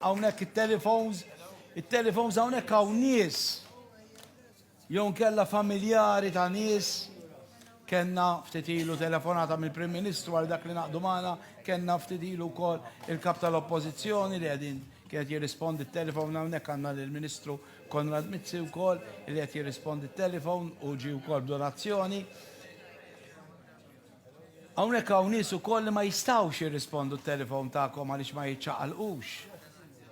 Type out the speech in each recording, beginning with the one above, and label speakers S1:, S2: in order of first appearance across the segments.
S1: Hawnhekk it-telephones, it-telephones hawnhekk hawn nies jew nkella familjari ta' nies kenna ftit ilu telefonata mill-Prim Ministru għal dak li naqdu magħna, kenna ftit ilu wkoll il-kap tal-Oppożizzjoni li qegħdin kienet jirrispondi t-telefon hawnhekk għandna lill-Ministru Konrad Mizzi wkoll li qed jirrispondi t-telefon u ġi wkoll donazzjoni. Hawnhekk hawn nies ukoll li ma jistgħux jirrispondu t-telefon tagħkom għaliex ma jiċċaqalqux.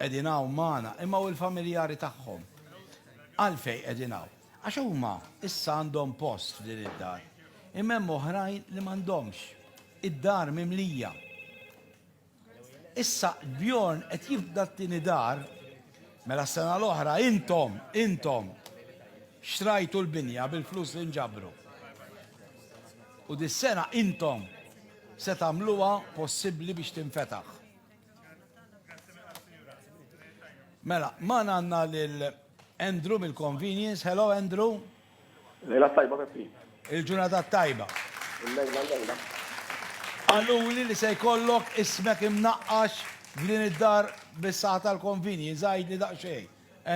S1: Qegħdin hawn magħna, imma u l-familjari tagħhom? Għalfejn qegħdin hawn? Għax huma issa għandhom post f'din id-dar, imma hemm oħrajn li m'għandhomx. Id-dar mimlija. Issa Bjorn qed jibda t-tieni dar, mela s-sena l-oħra intom, intom, xtrajtu l-binja bil-flus li nġabru. U dis-sena intom se tagħmluha possibbli biex tinfetaħ. Mela, magħna għandna lil Andrew mill-Convenience. Hello Andrew. Lejla
S2: t-tajba Peppi. Il-ġurnata
S1: t-tajba. Il-lejla l-lejla. Qaluli li se jkollok ismek imnaqqax f'din id-dar bis-saħħa tal-convenience, għidli daqsxejn,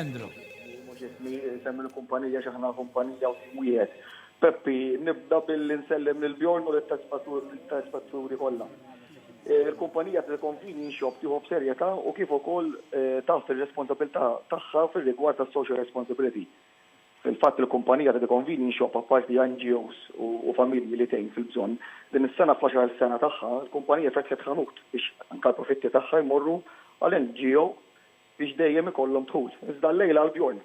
S1: Andrew. Ismi
S2: mhux ismi, isem il-kumpanija għax aħna kumpanija u tim wieħed. Peppi, nibda billi nsellem lil Bjorn u lit-telespetturi kollha. Il-kumpanija tal-convenience shop tieħu b'serjetà u kif ukoll taħt ir-responsabilità tagħha fir-rigward tas-social responsibility. Fil-fatt, il-kumpanija ta' Deconvini nxoqq apparti NGOs u familji li tgħin fil-bżonn. Din is-sena fl-għaxar sena tagħha, il-kumpanija fetħet ħanut biex anke l-profitti tagħha jmorru għal NGO biex dejjem ikollhom dħul. Iżda llejla għal Bjorn.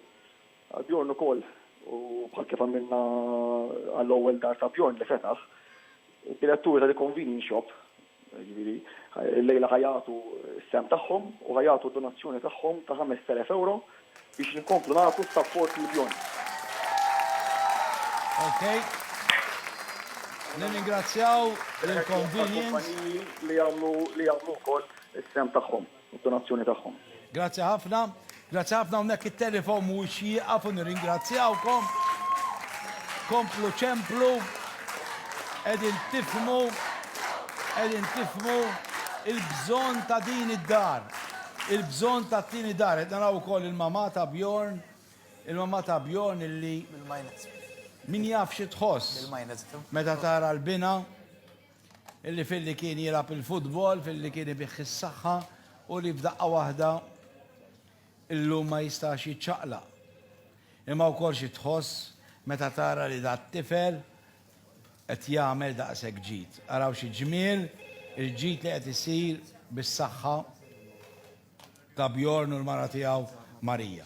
S2: Għal Bjorn ukoll u bħal kif għamilna għall-ewwel dar ta' Bjorn li fetaħ, Id-diretturi ta' The Convenience Shop, jiġifieri, illejla ħa jagħtu s-sehem tagħhom u ħa jagħtu donazzjoni tagħhom ta' ħamest elef ewro biex inkomplu nagħtu sapport lill-Bjorns.
S1: Ok. Nirringrazzjaw lill-Convenience.
S2: Għall-kumpaniji li jagħmlu wkoll is-sehem tagħhom. u d-donazzjoni tagħhom. Grazzi ħafna.
S1: Grazzi ħafna hawnhekk it-telefon mhuwiex jieqaf u nirringrazzjawkom. Komplu ċemplu. Qegħdin tifmu qegħdin tifmu il-bżonn ta' din id-dar. Il-bżonn ta' tieni dar. Qed naraw ukoll il-mamà ta' Bjorn, il-mamà ta' Bjorn illi min jaf xi tħoss meta tara l-bina. Illi filli kien jilgħab il-futbol, filli kien ibih is-saħħa u li f'daqqa waħda illum ma jistax jiċċaqlaq. Imma wkoll xi tħoss meta tara li dat-tifel qed jagħmel daqshekk ġid. Araw xi ġmiel il-ġid li qed isir bis-saħħa ta' Bjorn u l-mara tiegħu Marija.